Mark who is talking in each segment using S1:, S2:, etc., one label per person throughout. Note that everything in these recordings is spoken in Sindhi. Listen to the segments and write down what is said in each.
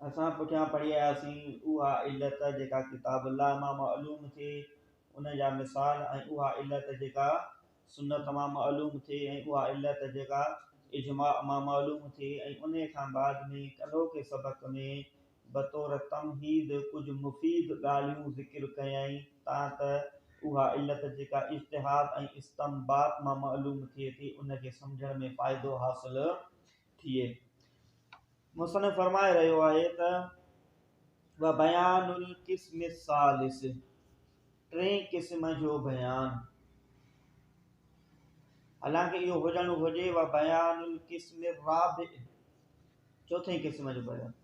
S1: اسان پٺيان پڙهي آياسين، اها علت جيڪا ڪتاب الله مان معلوم ٿئي، ان جا مثال، ۽ اها علت جيڪا سنت مان معلوم ٿئي، ۽ اها علت جيڪا اجماع مان معلوم ٿئي، ۽ انهي کان بعد ۾ ڪلهوڪي سبق ۾ بطور تمهيد ڪجهه مفيد ڳالهيون ذڪر ڪيائين تان ته اها علت جيڪا اجتهاد ۽ استنباط مان معلوم ٿئي ٿي ان کي سمجهڻ ۾ فائدو حاصل ٿئي. مصنف فرمائي رهيو آهي ته وبيان القسم الثالث ٽئين قسم جو بيان حالانڪه اهو هجڻ گهرجي وبيان القسم الرابع چوٿين قسم جو بيان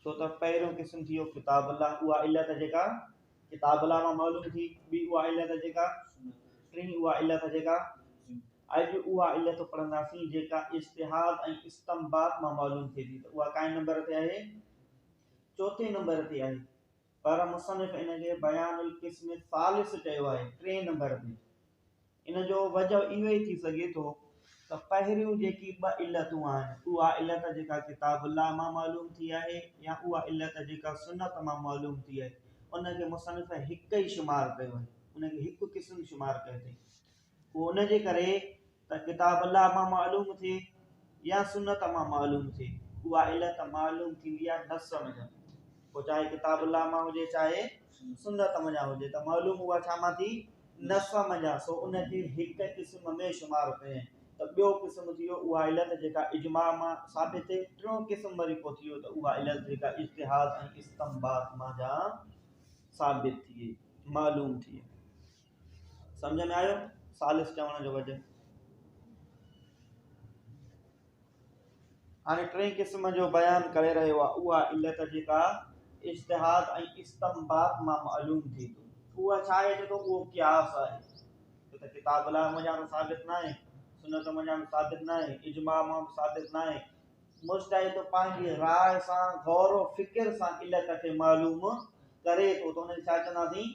S1: ڇو ته پهريون قسم ٿي ويو ڪتاب الله اها علت جيڪا ڪتاب الله مان معلوم ٿي ٻي اها علت جيڪا ٽين اها علت جيڪا اڄ اها علت پڙهنداسين جيڪا اشتهاد ۽ استمباد مان معلوم ٿئي ٿي ته اها ڪائين نمبر تي آهي چوٿين نمبر تي آهي پر مصنف ان کي بيان القسم ثالث چيو آهي ٽئين نمبر تي ان جو وجهه اهو ئي ٿي سگهي ٿو ته پهريون جيڪي ٻه علتون آهن، اها علت جيڪا ڪتاب الله مان معلوم ٿي آهي يا اها علت جيڪا سنت مان معلوم ٿي آهي، ان کي مصنف هڪ ئي شمار ڪيو آهي، ان کي هڪ قسم شمار ڪيو اٿئي. اهو ان جي ڪري ته ڪتاب الله مان معلوم ٿئي يا سنت مان معلوم ٿئي، اها علت معلوم ٿيندي آهي نص مجب، پوء چاهي ڪتاب الله مان هجي چاهي سنت منجهان هجي ته معلوم اها ڇا مان ٿي؟ نص منجهان، سو ان کي هڪ قسم ۾ شمار ڪيئين ته ٻيو قسم ٿي ويو اها علت جيڪا اجماع مان ثابت ٿئي، ٽيون قسم وري پوء ٿي ويو ته اها علت جيڪا اجتهاد ۽ استنباط منجهان ثابت ٿئي، معلوم ٿئي. سمجهه ۾ آيو ثالث چوڻ جو وجه. هاڻي ٽئين قسم جو بيان ڪري رهيو آهي اها علت جيڪا اجتهاد ۽ استنباط مان معلوم ٿي ٿو اها ڇا آهي چي ٿو اهو قياس آهي ته ته ڪتاب الله منجهان ته ثابت ناهي سنت منجهان به ثابت ناهي اجماع مان به ثابت ناهي مجتهد ته پنهنجي راء سان غور و فڪر سان علت کي معلوم ڪري ٿو ته ان کي ڇا چونداسين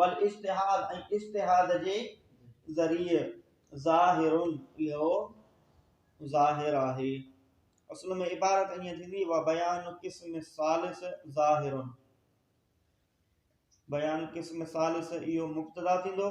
S1: والاجتهاد ۽ اجتهاد جي ذريعي ظاهر اهو ظاهر آهي اصل ۾ عبارت ائين ٿيندي وبيان قسم الثالث ظاهر بيان قسم ثالث اهو مبتدا ٿيندو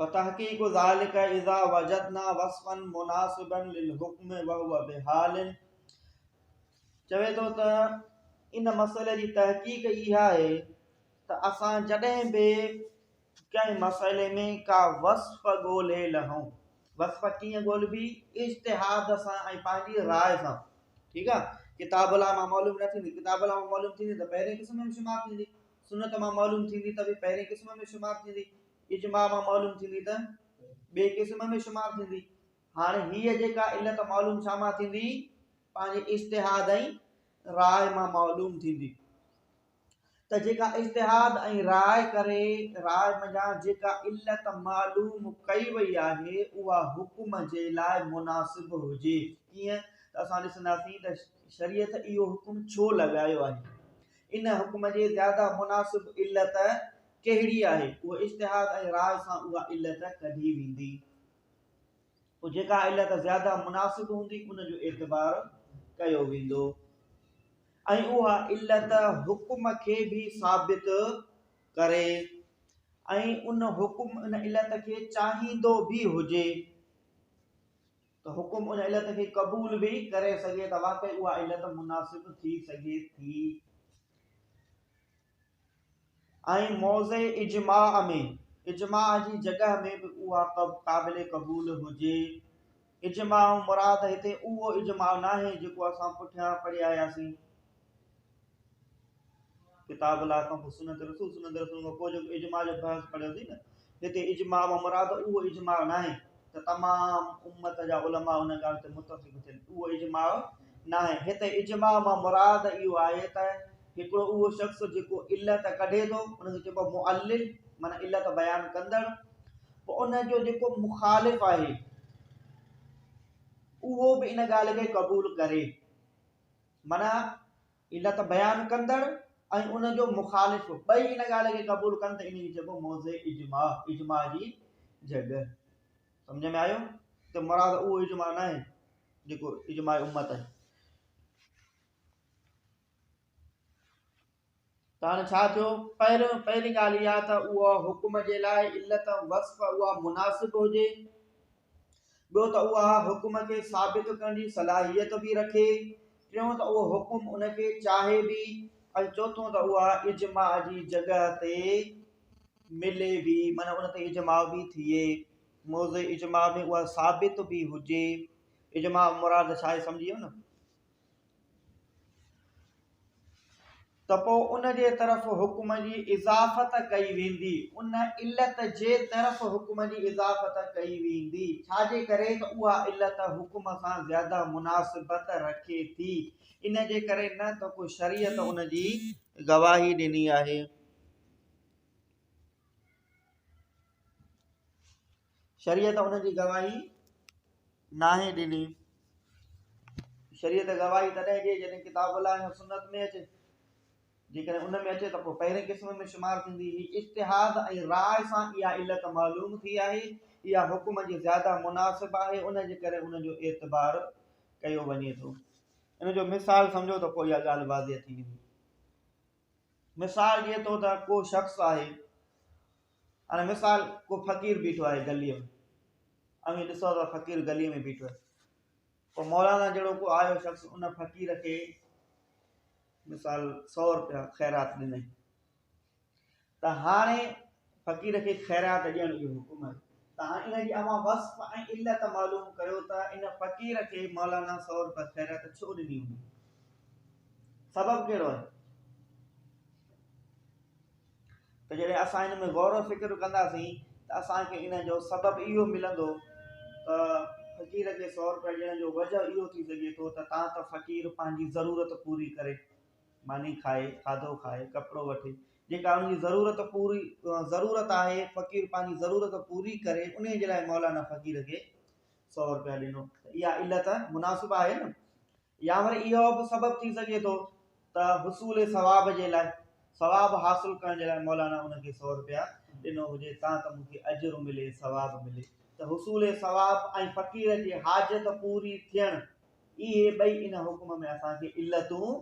S1: وتحقيق ذلک اذا وجدنا وصفا مناسبا للحكم وهو بحال چوي ٿو ته ان مسئلي جي تحقيق اها آهي ته اسان جڏهن به ڪنهن مسئلي ۾ ڪا وصف ڳولهي لهون وصف ڪيئن ڳولهبي اجتهاد سان ۽ پنهنجي راء سان ٺيڪ آهي ڪتاب الله مان معلوم نه ٿيندي ڪتاب الله مان معلوم ٿيندي ته پهرين قسم ۾ شمار ٿيندي سنت مان معلوم ٿيندي ته به پهرين قسم ۾ شمار ٿيندي اجماع مان معلوم ٿيندي ته ٻئي قسم ۾ شمار ٿيندي هاڻي هيء جيڪا علت معلوم ڇا مان ٿيندي پنهنجي اشتهاد ۽ راء مان معلوم ٿيندي ته جيڪا اشتهاد ۽ راء ڪري راء منجهان جيڪا علت معلوم ڪئي وئي آهي اها حڪم جي لاء مناسب هجي ڪيئن ته اسان ڏسنداسين ته شريعت اهو حڪم ڇو لڳايو آهي ان حڪم جي زياده مناسب علت ڪهڙي آهي اهو اجتهاد ۽ راء سان اها علت ڪڍي ويندي پوء جيڪا علت زياده مناسب هوندي ان جو اعتبار ڪيو ويندو ۽ اها علت حڪم کي به ثابت ڪري ۽ ان حڪم ان علت کي چاهيندو به هجي ته حڪم ان علت کي قبول به ڪري سگهي ته واقعي اها علت مناسب ٿي سگهي ٿي ۽ موضع اجماع ۾ اجماع جي جڳهه ۾ به اها قابل قبول هجي. اجماع مراد هتي اهو اجماع ناهي جيڪو اسان پٺيان پڙهي آياسين. ڪتاب الله کان پوء سنت رسول صلي الله عليه وسلم کان پوء جيڪو اجماع جو بحث پڙهيوسين نه هتي اجماع مان مراد اهو اجماع ناهي ته تمام امت جا علماء ان ڳالهه تي متفق ٿين، اهو اجماع ناهي، هتي اجماع مان مراد اهو آهي ته هڪڙو اهو شخص جيڪو علت ڪڍي ٿو ان کي چئبو آهي معلل معنيٰ علت بيان ڪندڙ، پوء ان جو جيڪو مخالف آهي اهو به ان ڳالهه کي قبول ڪري معنيٰ علت بيان ڪندڙ ۽ ان جو مخالف ٻئي ان ڳالهه کي قبول ڪن ته انهيء کي چئبو موضع اجماع، اجماع جي جڳهه. سمجهه ۾ آيو ته مراد اهو اجماع ناهي جيڪو اجماع امت آهي. ته هاڻي ڇا ٿيو؟ پهريون پهرين ڳالهه اها ته اها حڪم جي لاء علت ۽ وصف اها مناسب هجي، ٻيو ته اها حڪم کي ثابت ڪرڻ جي صلاحيت به رکي، ٽيون ته اهو حڪم ان کي چاهي به ۽ چوٿون ته اها اجماع جي جڳهه تي ملي به معنيٰ ان تي اجماع به ٿئي، موضع اجماع ۾ اها ثابت به هجي، اجماع مراد ڇا آهي سمجهي ويو نه؟ ته پوء ان جي طرف حڪم جي اضافت ڪئي ويندي، ان علت جي طرف حڪم جي اضافت ڪئي ويندي، ڇا جي ڪري ته اها علت حڪم سان زياده مناسبت رکي ٿي، ان جي ڪري نه ته ڪو شريعت ان جي گواهي ڏني آهي. شريعت ان جي گواهي ناهي ڏني. شريعت گواهي تڏهن ڏئي جڏهن ڪتاب الله ۽ سنت ۾ اچي. جيڪڏهن ان ۾ اچي ته پوء پهرين قسم ۾ شمار ٿيندي. هي اجتهاد ۽ راء سان اها علت معلوم ٿي آهي. اها حڪم جي زياده مناسب آهي، ان جي ڪري ان جو اعتبار ڪيو وڃي ٿو. ان جو مثال سمجهو ته پوء اها ڳالهه واضح ٿي ويندي. مثال جيئن طور ته ڪو شخص آهي. هاڻي مثال ڪو فقير بيٺو آهي گليء ۾، اوهين ڏسو ته فقير گليء ۾ بيٺو آهي، پوء مولانا جهڙو ڪو آيو شخص ان فقير کي مثال سؤ روپيا خيرات ڏنائين ته هاڻي فقير کي خيرات ڏيڻ جو حڪم آهي ته هاڻي ان جي اوهان وصف ۽ علت معلوم ڪريو ته ان فقير کي مولانا سؤ روپيا خيرات ڇو ڏني هوندي سبب ڪهڙو آهي ته جڏهن اسان ان ۾ غور و فڪر ڪنداسين ته اسان کي ان جو سبب اهو ملندو ته فقير کي سؤ روپيا ڏيڻ جو وجه اهو ٿي سگهي ٿو ته تان ته فقير پنهنجي ضرورت پوري ڪري ماني کائي کاڌو کائي ڪپڙو وٺي جيڪا ان جي ضرورت پوري ضرورت آهي فقير پنهنجي ضرورت پوري ڪري ان جي لاء مولانا فقير کي سؤ روپيا ڏنو اها علت مناسب آهي نه يا وري اهو به سبب ٿي سگهي ٿو ته حصول ثواب جي لاء، ثواب حاصل ڪرڻ جي لاء مولانا ان کي سؤ رپيا ڏنو هجي تان ته مون کي اجر ملي، ثواب ملي ته حصول ثواب ۽ فقير جي حاجت پوري ٿيڻ، اهي ٻئي ان حڪم ۾ اسان کي علتون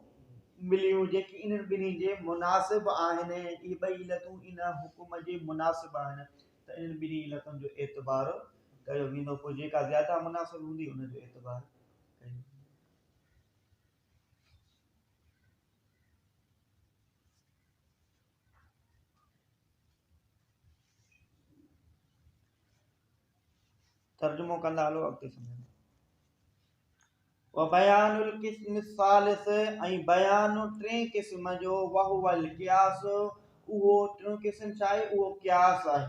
S1: مليون جيڪي انهن ٻنهي جي مناسب آهن، اهي ٻئي علتون ان حڪم جي مناسب آهن ته انهن ٻنهي علتن جو اعتبار ڪيو ويندو، پوء جيڪا زياده مناسب هوندي ان جو اعتبار ترجمو ڪندا هلو اڳتي سمجهندا وبيان القسم الثالث اي بيان ٽي قسم جو وهو القياس اهو ٽيون قسم چاهي اهو قياس آهي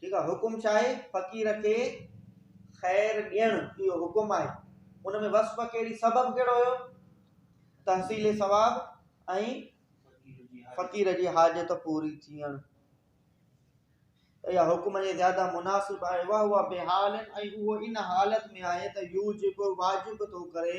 S1: ٺيڪ آهي حڪم ڇا آهي فقير کي خير ڏيڻ اهو حڪم آهي ان ۾ وصف کي سبب ڪهڙو هيو تحصيل ثواب ۽ فقير جي حاجت پوري ٿيڻ يا حڪم جي زياده مناسب آهي واهو بي حال ۽ اهو ان حالت ۾ آهي ته يوجب واجب ٿو ڪري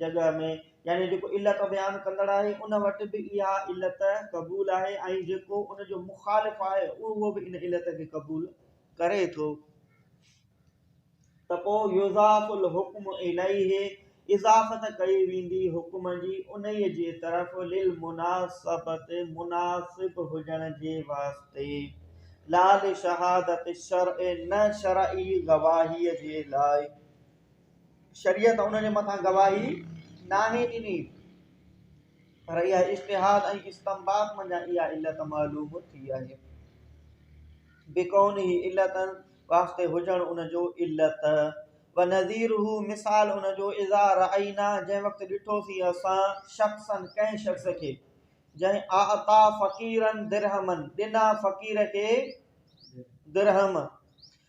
S1: جڳهه ۾ يعني جيڪو علت بيان ڪندڙ آهي ان وٽ به اها علت قبول آهي ۽ جيڪو ان جو مخالف آهي اهو به ان علت کي قبول ڪري ٿو ته پوء يضاف الحكم اليه اضافت ڪئي ويندي حڪم جي انهي جي طرف للمناسبت مناسب هجڻ جي واسطي لا لشهادت الشرع نه شرعي گواهي جي لاء شريعت ان جي مٿان گواهي ناهي ڏني پر اها اجتهاد ۽ استنباط منجهان اها علت معلوم ٿي آهي بڪونه علت واسطي هجڻ ان جو علت و نظير هو مثال ان جو اذا رعينا جنهن وقت ڏٺوسين اسان شخصن ڪنهن شخص کي جنهن اعطا فقيرن درهمن ڏنا فقير کي درهم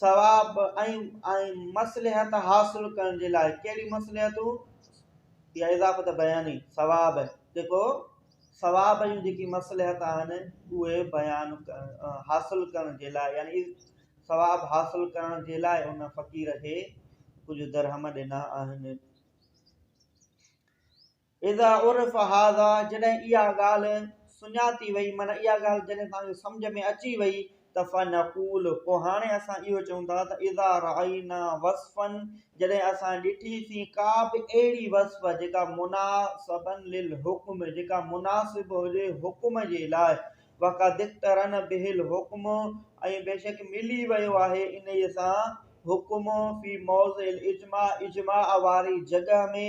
S1: ثواب ۽ ۽ مصلحت حاصل ڪرڻ جي لاء ڪهڙي مصلحتون يا اضافت بياني ثواب جيڪو ثواب جون جيڪي مصلحت آهن اهي بيان حاصل ڪرڻ جي لاء يعني ثواب حاصل ڪرڻ جي لاء ان فقير کي ڪجهه درهم ڏنا آهن اذا عرف هذا جڏهن اها ڳالهه سڃاتي وئي معنيٰ اها ڳالهه جڏهن توهان کي سمجهه ۾ اچي وئي ته فنقول پوء هاڻي اسان اهو چئون ٿا ته اذا رأينا وصفا جڏهن اسان ڏٺي سين ڪا به اهڙي وصف جيڪا مناسبا للحڪم جيڪا مناسب هجي حڪم جي لاء وقد اقترن به الحڪم ۽ بيشڪ ملي ويو آهي انهيء سان حڪم في موضع الاجماع اجماع واري جڳهه ۾.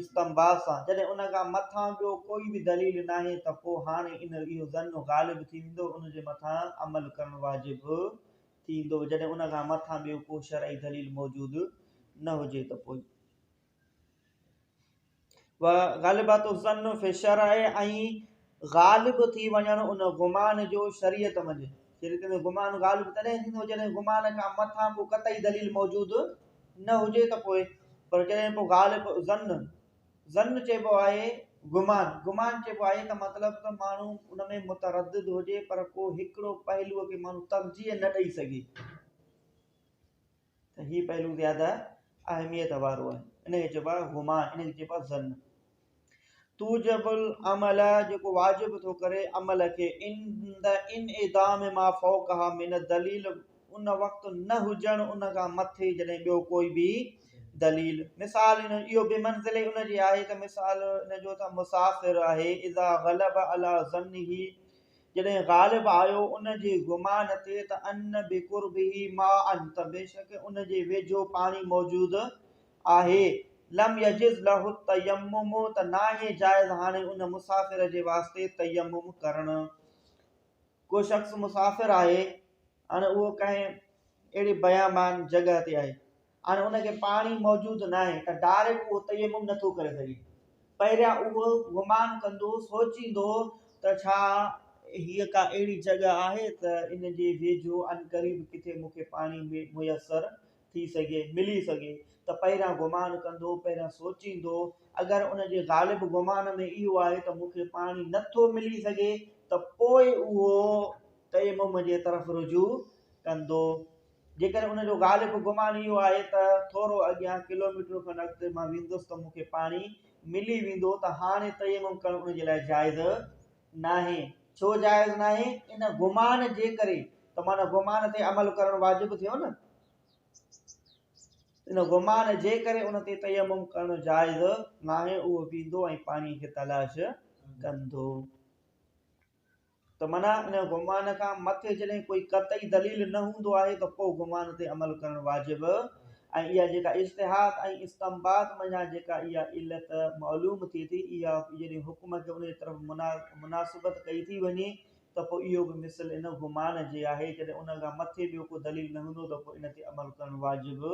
S1: استنباط سان جڏهن ان کان مٿان ٻيو ڪوئي به دليل ناهي ته پوء هاڻي ان اهو ظن غالب ٿي ويندو ان جي مٿان عمل ڪرڻ واجب ٿيندو جڏهن ان کان مٿان ٻيو ڪو شرعي دليل موجود نه هجي ته پوء وغالبات الظن في الشرع ۽ غالب ٿي وڃڻ ان گمان جو شريعت منجهه شريعت ۾ گمان غالب تڏهن ٿيندو جڏهن گمان کان مٿان ڪو قطعي دليل موجود نه هجي ته پوء پر جڏهن پوء غالب ظن ظن چئبو آهي گمان گمان چئبو آهي ته مطلب ته ماڻهو ان ۾ متردد هجي پر ڪو هڪڙو پهلوء کي ماڻهو ترجيح نه ڏئي سگهي. ته هي پهلو زياده اهميت وارو آهي. انهيء کي چئبو آهي هما، انهيء کي چئبو آهي ظن. توجب العمل، جيڪو واجب ٿو ڪري عمل کي، عند انعدام ما فوقها من الدليل، ان وقت نه هجڻ ان کان مٿي جڏهن ٻيو ڪوئي به دليل. مثال ان جو اهو بمنزله ان جي آهي ته مثال ان جو ته مسافر آهي اذا غلب علي ظنه، جڏهن غالب آيو ان جي گمان تي ته ان بقربه ماء ته بيشڪ ان جي ويجهو پاڻي موجود آهي، لم يجز له التيمم ته ناهي جائز هاڻي ان مسافر جي واسطي تيمم ڪرڻ. ڪو شخص مسافر آهي هاڻي اهو ڪنهن اهڙي بيامان جڳهه تي آهي. هاڻي ان کي پاڻي موجود ناهي ته ڊائريڪٽ اهو تيمم نٿو ڪري سگهي. پهريان اهو گمان ڪندو، سوچيندو ته ڇا هيء ڪا اهڙي جڳهه آهي ته ان جي ويجهو عنقريب ڪٿي مون کي پاڻي ميسر ٿي سگهي، ملي سگهي ته پهريان گمان ڪندو، پهريان سوچيندو. اگر ان جي غالب گمان ۾ اهو آهي ته مون کي پاڻي نٿو ملي سگهي ته پوء اهو تيمم جي طرف رجوع ڪندو. جيڪڏهن ان جو غالب گمان اهو آهي ته ٿورو اڳيان ڪلوميٽر کن اڳتي مان ويندس ته مون کي پاڻي ملي ويندو ته هاڻي تيمم ڪرڻ ان جي لاء جائز ناهي. ڇو جائز ناهي؟ ان گمان جي ڪري ته معنيٰ گمان تي عمل ڪرڻ واجب ٿيو نه. ان گمان جي ڪري ان تي تيمم ڪرڻ جائز ناهي، اهو ويندو ۽ پاڻي کي تلاش ڪندو. ته منع ان گمان کان مٿي جڏهن ڪوئي قطعي دليل نه هوندو آهي ته پوء گمان تي عمل ڪرڻ واجب ۽ اها جيڪا اجتهاد ۽ استنباط منجهان جيڪا اها علت معلوم ٿئي ٿي اها جڏهن حڪم کي ان جي طرف مناسبت ڪئي ٿي وڃي ته پوء اهو به مثل ان گمان جي آهي جڏهن ان کان مٿي ٻيو ڪو دليل نه هوندو ته پوء ان تي عمل ڪرڻ واجب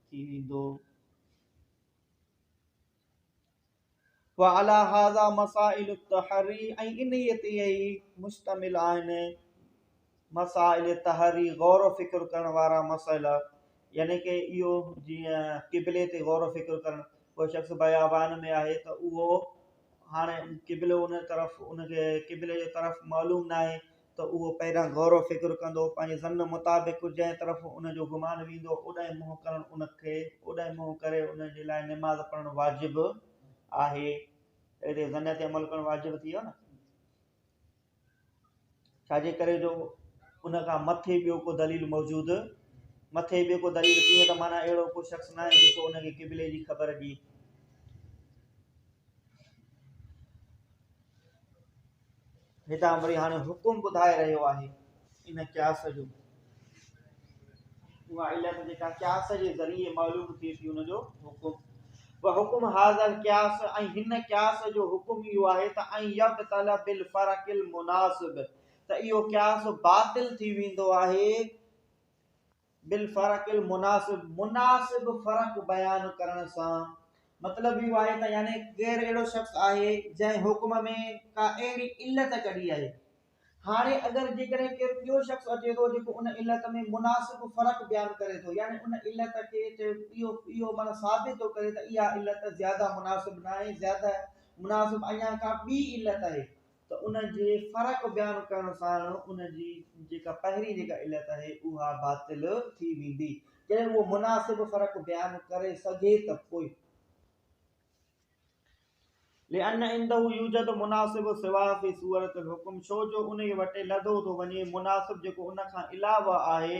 S1: ٿي ويندو. وعليٰ هذا مسائل التحري ۽ انهيء تي ئي مشتمل آهن مسائل تحري غور و فڪر ڪرڻ وارا مسئلا يعني ڪي اهو جيئن قبلي تي غور و فڪر ڪرڻ ڪو شخص بيابان ۾ آهي ته اهو هاڻي قبلو ان طرف ان کي قبلي جو طرف معلوم ناهي ته اهو پهريان غور و فڪر ڪندو، پنهنجي ظن مطابق جنهن طرف ان جو گمان ويندو اوڏانهن منهن ڪرڻ ان کي اوڏانهن منهن ڪري ان جي لاء نماز پڙهڻ واجب آهي ته هتي ظن تي عمل ڪرڻ واجب ٿي ويو نه ڇا جي ڪري جو ان کان مٿي ٻيو ڪو دليل موجود مٿي ٻيو ڪو دليل ڪيئن ته معنيٰ اهڙو ڪو شخص نه آهي جيڪو ان کي قبلي جي خبر ڏي هتان وري هاڻي حڪم ٻڌائي رهيو آهي ان قياس جو اها علت جيڪا قياس جي ذريعي معلوم ٿئي ٿي ان جو حڪم و حڪم حاضر قياس ۽ هن قياس جو حڪم اهو آهي ته ۽ يب طلب بالفرق المناسب ته اهو قياس باطل ٿي ويندو آهي بالفرق المناسب، مناسب فرق بيان ڪرڻ سان مطلب اهو آهي ته يعني غير اهڙو شخص آهي جنهن حڪم ۾ ڪا اهڙي علت ڪڍي آهي. هاڻي اگر جيڪڏهن ڪير ٻيو شخص اچي ٿو جيڪو ان علت ۾ مناسب فرق بيان ڪري ٿو يعني ان علت کي اهو اهو معنيٰ ثابت ٿو ڪري ته اها علت زياده مناسب ناهي زياده مناسب اڃا ڪا ٻي علت آهي ته ان جي فرق بيان ڪرڻ سان ان جي جيڪا پهرين جيڪا علت آهي اها باطل ٿي ويندي. جڏهن اهو مناسب فرق بيان ڪري سگهي ته پوء. لأن عنده يوجد مناسب سوا في صورت الحكم ڇو جو انهي وٽ لڌو ٿو وڃي مناسب جيڪو ان کان علاوه آهي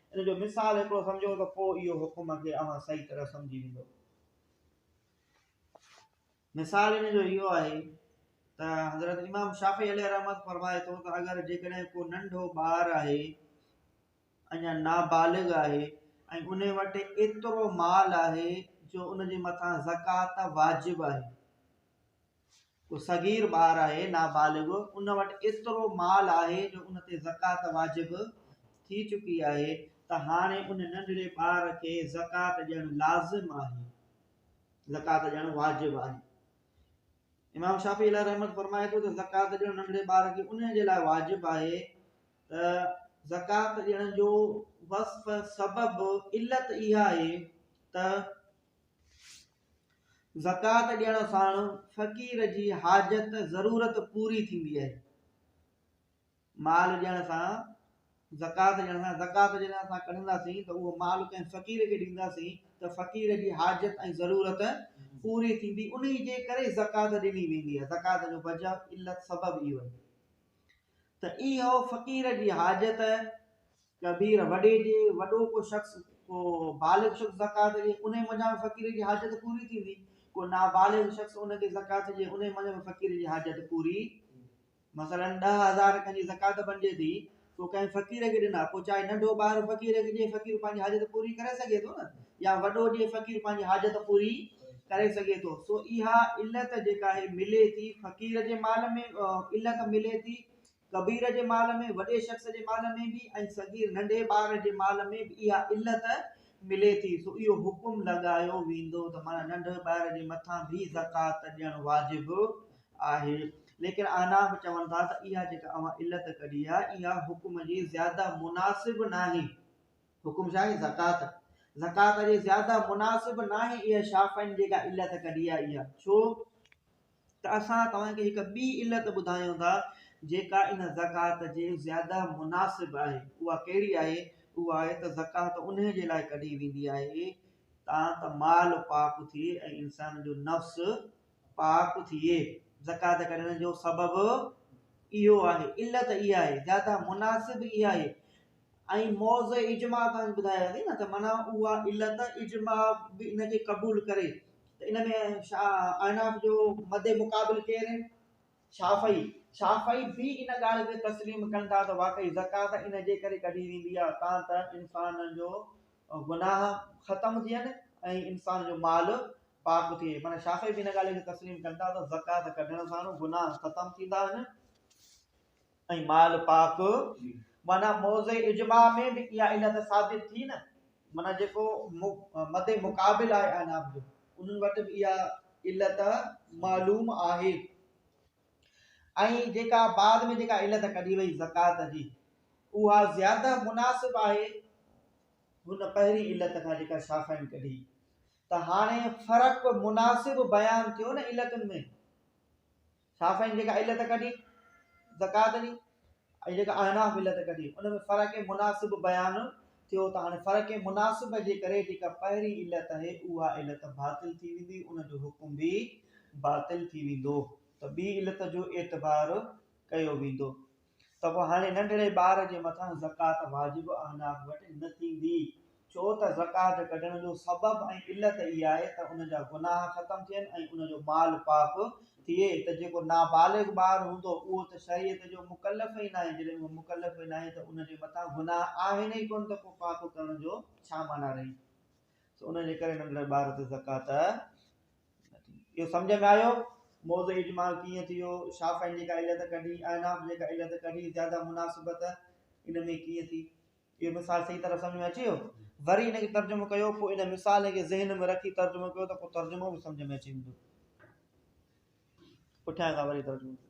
S1: ان جو مثال هڪڙو سمجهو ته پوء اهو حڪم کي اوهان صحيح طرح سمجهي ويندو. مثال ان جو اهو آهي ته حضرت امام شافعي عليه رحمت فرمائي ٿو ته اگر جيڪڏهن ڪو ننڍو ٻار آهي اڃا نابالغ آهي ۽ ان وٽ ايترو مال آهي جو ان جي مٿان زڪات واجب آهي ڪو صغير ٻار آهي، نابالغ، ان وٽ ايترو مال آهي جو ان تي زڪوات واجب ٿي چڪي آهي ته هاڻي ان ننڍڙي ٻار کي زڪوات ڏيڻ لازم آهي، زڪوات ڏيڻ واجب آهي. امام شافعي عليه رحمت فرمائي ٿو ته زڪوات ڏيڻ ننڍڙي ٻار کي ان جي لاء واجب آهي ته زڪوات ڏيڻ جو وصف سبب علت اها آهي ته زڪوات ڏيڻ سان فقير جي حاجت، ضرورت، پوري ٿيندي آهي. مال ڏيڻ سان، زڪوات ڏيڻ سان، زڪوات جڏهن اسان ڪڍنداسين ته اهو مال ڪنهن فقير کي ڏينداسين ته فقير جي حاجت ۽ ضرورت پوري ٿيندي، انهي جي ڪري زڪوات ڏني ويندي آهي، زڪوات جو وجهه، علت، سبب اهو آهي ته اهو فقير جي حاجت، ڪبير وڏي جي وڏو ڪو شخص ڪو بالغ شخص زڪوات ڏئي انهي منجهان به فقير جي حاجت پوري ٿيندي ڪو نابالغ شخص ان کي زڪوات ڏئي انهي منجهان به فقير جي حاجت پوري مثلا ڏهه هزار کن جي زڪوات بنجي ٿي سو ڪنهن فقير کي ڏنا پوء چاهي ننڍو ٻار فقير کي ڏئي فقير پنهنجي حاجت پوري ڪري سگهي ٿو نه يا وڏو ڏئي فقير پنهنجي حاجت پوري ڪري سگهي ٿو سو اها علت جيڪا آهي ملي ٿي فقير جي مال ۾ علت ملي ٿي ڪبير جي مال ۾ وڏي شخص جي مال ۾ به ۽ صغير ننڍي ٻار جي مال ۾ به اها علت ملي ٿي سو اهو حڪم لڳايو ويندو ته معنيٰ ننڍي ٻار جي مٿان به زڪوات ڏيڻ واجب آهي ليڪن احناف چون ٿا ته اها جيڪا اوهان علت ڪڍي آهي اها حڪم جي زياده مناسب ناهي حڪم ڇا آهي زڪوات زڪوات جي زياده مناسب ناهي اها شافعين جيڪا علت ڪڍي آهي اها ڇو؟ ته اسان توهان کي هڪ ٻي علت ٻڌايون ٿا جيڪا ان زڪوات جي زياده مناسب آهي اها ڪهڙي آهي اها آهي ته زڪوات انهي جي لاء ڪڍي ويندي آهي تان ته مال پاڪ ٿئي ۽ انسان جو نفس پاڪ ٿئي زڪوات ڪڍڻ جو سبب اهو آهي علت اها آهي زياده مناسب اها آهي ۽ موضع اجماع توهان ٻڌائي ويندي نه ته معنيٰ اها علت اجماع به ان کي قبول ڪري ته ان ۾ اعناف جو مد مقابل ڪير آهن شافعي شافعي به ان ڳالهه کي تسليم ڪن ٿا ته واقعي زڪات ان جي ڪري ڪڍي ويندي آهي تان ته انسان جو گناهه ختم ٿين ۽ انسان جو مال پاڪ ٿئي معنيٰ شافعي به ان ڳالهه کي تسليم ڪن ٿا ته زڪات ڪڍڻ سان گناهه ختم ٿيندا آهن ۽ مال پاڪ معنيٰ موضع اجماع ۾ به اها علت ثابت ٿي نه معنيٰ جيڪو مد مقابل آهي اعناف جو انهن وٽ به اها علت معلوم آهي ۽ جيڪا بعد ۾ جيڪا علت ڪڍي وئي زڪات جي اها زياده مناسب آهي هن پهرين علت کان جيڪا شافعين ڪڍي ته هاڻي فرق مناسب بيان ٿيو نه علتن ۾ شافعين جيڪا علت ڪڍي زڪوات جي ۽ جيڪا احناف علت ڪڍي ان ۾ فرق مناسب بيان ٿيو ته هاڻي فرق مناسب جي ڪري جيڪا پهرين علت آهي اها علت باطل ٿي ويندي ان جو حڪم به باطل ٿي ويندو ته ٻي علت جو اعتبار ڪيو ويندو ته پوء هاڻي ننڍڙي ٻار جي مٿان زڪوات واجب اعناق وٽ نه ٿيندي، ڇو ته زڪوات ڪڍڻ جو سبب ۽ علت اها آهي ته ان جا گناهه ختم ٿين ۽ ان جو مال پاڪ ٿئي ته جيڪو نابالغ ٻار هوندو اهو ته شريعت جو مڪلف ئي ناهي، جڏهن اهو مڪلف ئي ناهي ته ان جي مٿان گناهه آهن ئي ڪونه ته پوء پاڪ ڪرڻ جو ڇا معنيٰ رهي؟ سو ان جي ڪري ننڍڙي ٻار تي زڪوات نه ٿيندي. اهو سمجهه ۾ آيو؟ موضع اجمال ڪيئن ٿيو؟ شافعين جيڪا علت ڪڍي، احناف جيڪا علت ڪڍي، زياده مناسبت ان ۾ ڪيئن ٿي؟ اهو مثال صحيح طرح سمجهه ۾ اچي ويو؟ وري ان کي ترجمو ڪيو، پوء ان مثال کي ذهن ۾ رکي ترجمو ڪيو ته پوء ترجمو به سمجهه ۾ اچي ويندو. پٺيان کان وري ترجمو ڪيو.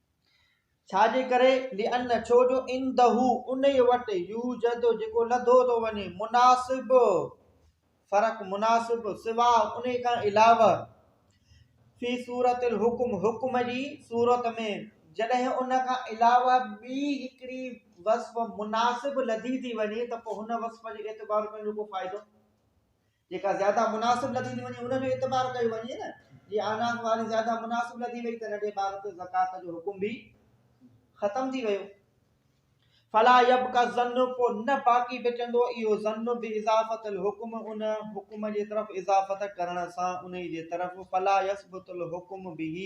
S1: ڇا جي ڪري؟ لأن ڇو جو عنده انهي وٽ يوجد جيڪو لڌو ٿو وڃي مناسب فرق مناسب سوا انهي کان علاوه في صورت الحڪم حڪم جي صورت ۾ جڏهن ان کان علاوه ٻي هڪڙي وصف مناسب لڌي ٿي وڃي ته پوء هن وصف جي اعتبار پنهنجو ڪو فائدو جيڪا زياده مناسب لڌي ٿي وڃي ان جو اعتبار ڪيو وڃي نه جي اعناق واري زياده مناسب لڌي وئي ته ننڍي ٻار تي زڪات جو حڪم به ختم ٿي ويو فلا يب کا ظن پو نه باقي بچندو اهو ظن به اضافت الحکم ان حکم جي طرف اضافت ڪرڻ سان ان جي طرف فلا يثبت الحکم به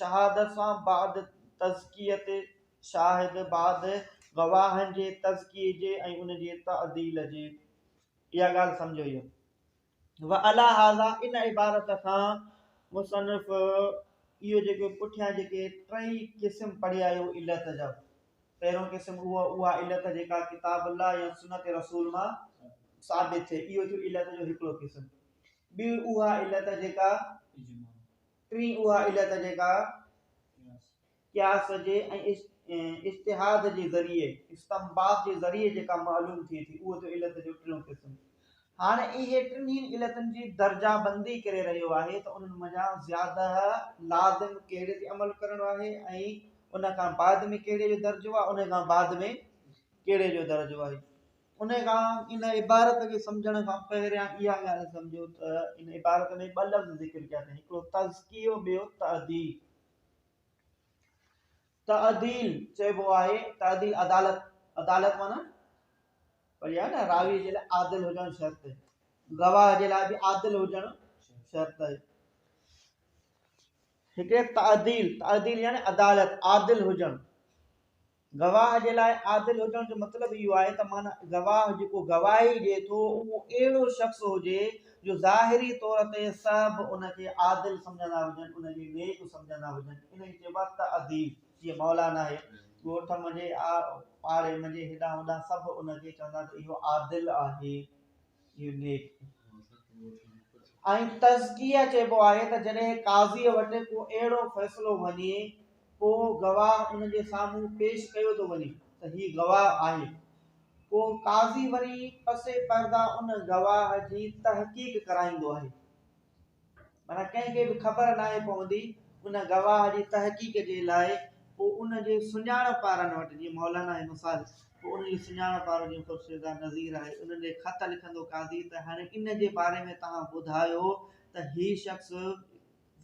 S1: شهادت سان بعد تزڪية شاهد بعد گواهن جي تزڪيي جي ۽ ان جي تعديل جي اها ڳالهه سمجهيو ويو وعليٰ هذا ان عبارت کان مصنف اهو جيڪو پٺيان جيڪي ٽئي قسم پڙهي آيو علت جا پهريون قسم اهو اها علت جيڪا ڪتاب الله يا سنت رسول مان ثابت ٿئي اهو ٿيو علت جو هڪڙو قسم ٻي اها علت جيڪا ٽين اها علت جيڪا قياس جي ۽ اجتهاد جي ذريعي، استنباط جي ذريعي جيڪا معلوم ٿئي ٿي، اهو ٿيو علت جو ٽيون قسم. هاڻ اهي ٽنهين علتن جي درجه بندي ڪري رهيو آهي ته انهن منجهان زياده لازم ڪهڙي تي عمل ڪرڻو آهي ۽ ان کان بعد ۾ ڪهڙي جو درجو آهي، انهي کان بعد ۾ ڪهڙي جو درجو آهي. انهيء کان ان عبارت کي سمجهڻ کان پهريان اها ڳالهه سمجهو ته ان عبارت ۾ ٻه لفظ ذڪر ڪيا اٿئي هڪڙو تزڪيو ٻيو تعديل تعديل چئبو آهي تعديل عدالت عدالت معنی وڏي آهي نه راوي جي لاء عادل هجڻ شرط آهي گواهه جي لاء به عادل هجڻ شرط آهي هڪڙي تعديل تعديل يعني عدالت عادل هجڻ گواهه جي لاء عادل هجڻ جو مطلب اهو آهي ته معنيٰ گواهه جيڪو گواهي ڏئي ٿو اهو اهڙو شخص هجي جو ظاهري طور تي سڀ ان کي عادل سمجهندا هجن ان کي نيڪ سمجهندا هجن ان کي چئبو آهي تاديب جيئن مولا ناهي ڳوٺ منجهي آڙي منجهي هيڏانهن هوڏانهن سڀ ان کي چوندا ته اهو عادل آهي. يونيڪ ۽ تزڪيه چئبو آهي ته جڏهن قاضيء وٽ ڪو اهڙو فيصلو وڃي ڪو گواهه ان جي سامهون پيش ڪيو ٿو وڃي ته هي گواهه آهي پوء قاضي وري پسي پرده ان گواهه جي تحقيق ڪرائيندو آهي. معنيٰ ڪنهن کي به خبر ناهي پوندي ان گواهه جي تحقيق جي لاء پوء ان جي سڃاڻپ وارن وٽ جيئن مولانا آهي مثال پوء ان جي سڃاڻپ وارو جيئن خورشيدا نذير آهي انهن ڏي خط لکندو قاضي ته هاڻي ان جي باري ۾ توهان ٻڌايو ته هي شخص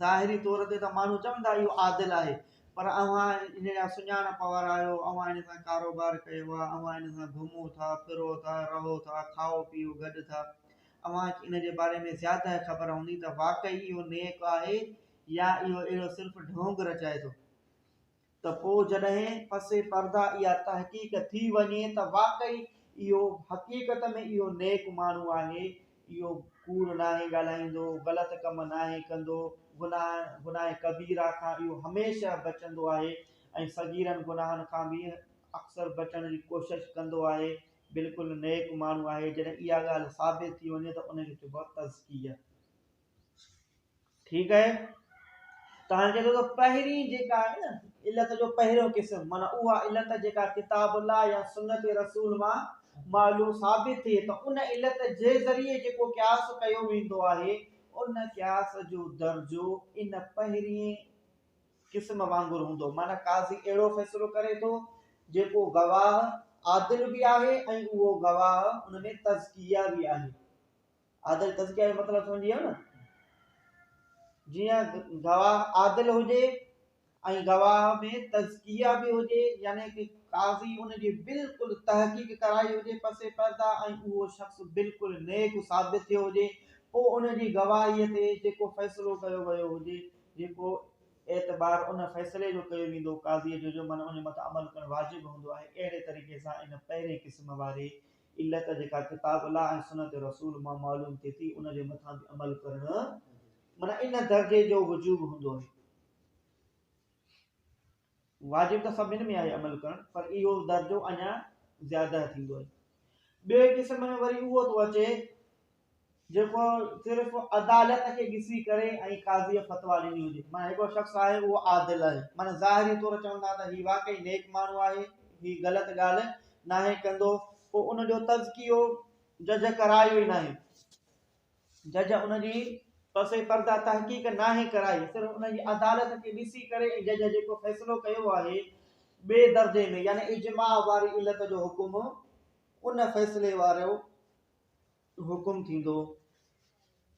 S1: ظاهري طور تي ته ماڻهو چوندا اهو عادل آهي پر اوهان ان جا سڃاڻپ وارا آهيو اوهان ان سان ڪاروبار ڪيو آهي اوهان ان سان گهمو ٿا ڦرو ٿا رهو ٿا کائو پيئو گڏ ٿا اوهان کي ان جي باري ۾ زياده خبر هوندي ته واقعي اهو نيڪ آهي يا اهو اهڙو صرف ڍونگ رچائي ٿو. ته پوء جڏهن پس پرده اها تحقيق ٿي وڃي ته واقعي اهو حقيقت ۾ اهو نيڪ ماڻهو آهي، اهو ڪوڙ ناهي ڳالهائيندو، غلط ڪم ناهي ڪندو، گناهه، گناهه ڪبيره، کان اهو هميشه بچندو آهي ۽ صغيرن گناهن کان به اڪثر بچڻ جي ڪوشش ڪندو آهي، بلڪل نيڪ ماڻهو آهي جڏهن اها ڳالهه ثابت ٿي وڃي ته ان کي چئبو آهي تزڪيه ٺيڪ آهي تان چئي ٿو ته پهرين جيڪا آهي نه علت جو پهريون قسم مانا اها علت جيڪا ڪتاب الله يا سنت رسول مان معلوم ثابت ٿئي ته ان علت جي ذريعي جيڪو قياس ڪيو ويندو آهي ان قياس جو درجو ان پهرين قسم وانگر هوندو معنيٰ قاضي اهڙو فيصلو ڪري ٿو جيڪو گواهه عادل به آهي ۽ اهو گواهه ان ۾ تزڪيه به آهي عادل تزڪيه جو مطلب سمجھي ويو نه جيئن گواهه عادل هجي ۽ گواهه ۾ تزڪيه به هجي يعني ته قاضي ان جي بلڪل تحقيق ڪرائي هجي پسي پردا ۽ اهو شخص بلڪل نيڪ ثابت ٿيو هجي پوء ان جي گواهيء تي جيڪو فيصلو ڪيو ويو هجي جيڪو اعتبار ان فيصلي جو ڪيو ويندو قاضيء جو جو من ان مٿان عمل ڪرڻ واجب هوندو آهي اهڙي طريقي سان ان پهرئين قسم واري علت جيڪا ڪتاب الله ۽ سنت رسول مان معلوم ٿئي ٿي ان جي مٿان به عمل ڪرڻ معنيٰ ان درجي جو وجوب هوندو آهي. واجب ته سڀن ۾ آهي عمل ڪرڻ پر اهو درجو اڃا زياده ٿيندو آهي. ٻئي قسم ۾ وري اهو ٿو اچي جيڪو صرف عدالت کي ڏسي ڪري ۽ قاضي فتوا ڏني هجي معنيٰ هڪڙو شخص آهي اهو عادل آهي معنيٰ ظاهري طور چون ٿا ته هي واقعي نيڪ ماڻهو آهي هي غلط ڳالهه ناهي ڪندو پوء ان جو تزڪيو جج ڪرايو ئي ناهي جج ان جي پس پرده تحقيق ناهي ڪرائي صرف ان جي عدالت کي ڏسي ڪري ۽ جج جيڪو فيصلو ڪيو آهي ٻئي درجي ۾ يعني اجماع واري علت جو حڪم ان فيصلي وارو حڪم ٿيندو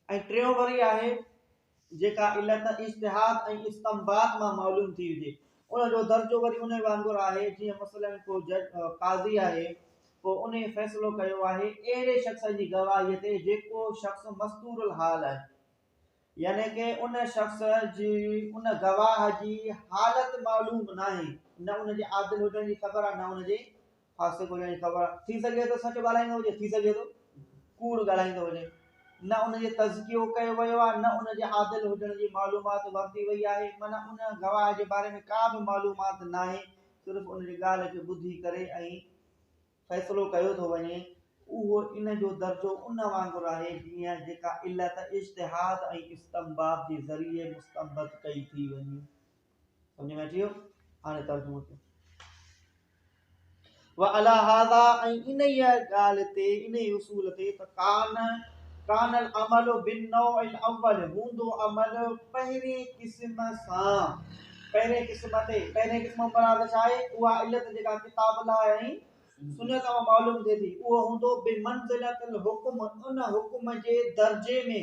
S1: ۽ ٽيون وري آهي جيڪا علت اجتهاد ۽ استنباط مان معلوم ٿي هجي، ان جو درجو وري انهي وانگر آهي، جيئن مثلاً ڪو جج، قاضي، آهي، پوء انهي فيصلو ڪيو آهي، اهڙي شخص جي گواهيء تي، جيڪو شخص مستور الحال آهي. يعني ڪي ان شخص جي، ان گواهه جي، حالت معلوم ناهي، نه ان جي عادل هجڻ جي خبر آهي، نه ان جي خاصي ڳولهيان جي خبر آهي. ٿي سگهي ٿو سچ ڳالهائيندو هجي، ٿي سگهي ٿو ڪوڙ ڳالهائيندو هجي. نه ان جو تزڪيو ڪيو ويو آهي، نه ان جي عادل هجڻ جي معلومات ورتي وئي آهي، معنيٰ ان گواهه جي باري ۾ ڪا به معلومات ناهي، صرف ان جي ڳالهه کي ٻڌي ڪري ۽ فيصلو ڪيو ٿو وڃي. اهو ان جو درجو ان وانگر آهي، جيئن جيڪا علت اجتهاد ۽ استنباط جي ذريعي مستنبط ڪئي ٿي وڃي. سمجھ ۾ اچي ويو هاڻي ترجمو ڪيو وعلى هذا ان هي قال تي ان هي اصول تي تقان کان عمل بن نو ان اول هوندو عمل پهري قسم سان پهري قسم تي پهري قسم مراد ڇا آهي اها علت جيڪا ڪتاب لا ۽ سنت مان معلوم ٿي ٿي اهو هوندو بي منزلت الحكم ان حڪم جي درجي ۾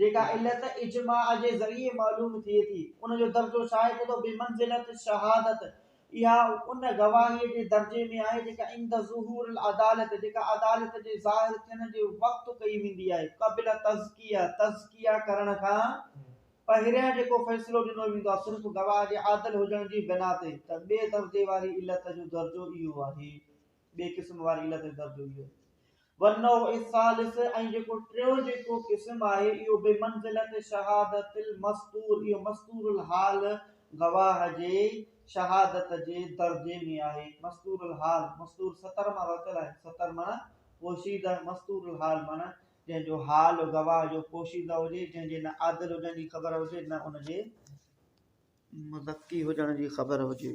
S1: جيڪا علت اجماع جي ذريعي معلوم ٿئي ٿي، ان جو درجو ڇا آهي؟ ڪتو بمنزلة الشهادة، اها ان گواهيء جي درجي ۾ آهي، جيڪا عند ظهور العدالة، جيڪا عدالت جي ظاهر ٿيڻ جي وقت ڪئي ويندي آهي، قبل تزڪيه، تزڪيه ڪرڻ کان پهريان جيڪو فيصلو ڏنو ويندو آهي، صرف گواهه جي عادل هجڻ جي بنا تي، ته ٻئي درجي واري علت جو درجو اهو آهي. ٻئي قسم واري علت جو درجو اهو آهي. والنوع الثالث ۽ جيڪو ٽيون جيڪو قسم آهي اهو بمنزلة شهادة المستور اهو مستور الحال گواهه جي شهادت جي درجي ۾ آهي. مستور الحال، مستور ستر مان ورتل آهي، ستر معنيٰ پوشيده، مستور الحال معنيٰ جنهن جو حال گواهه جو پوشيده هجي، جنهن جي نه عادل هجڻ جي خبر هجي نه ان جي مزڪي هجڻ جي خبر هجي.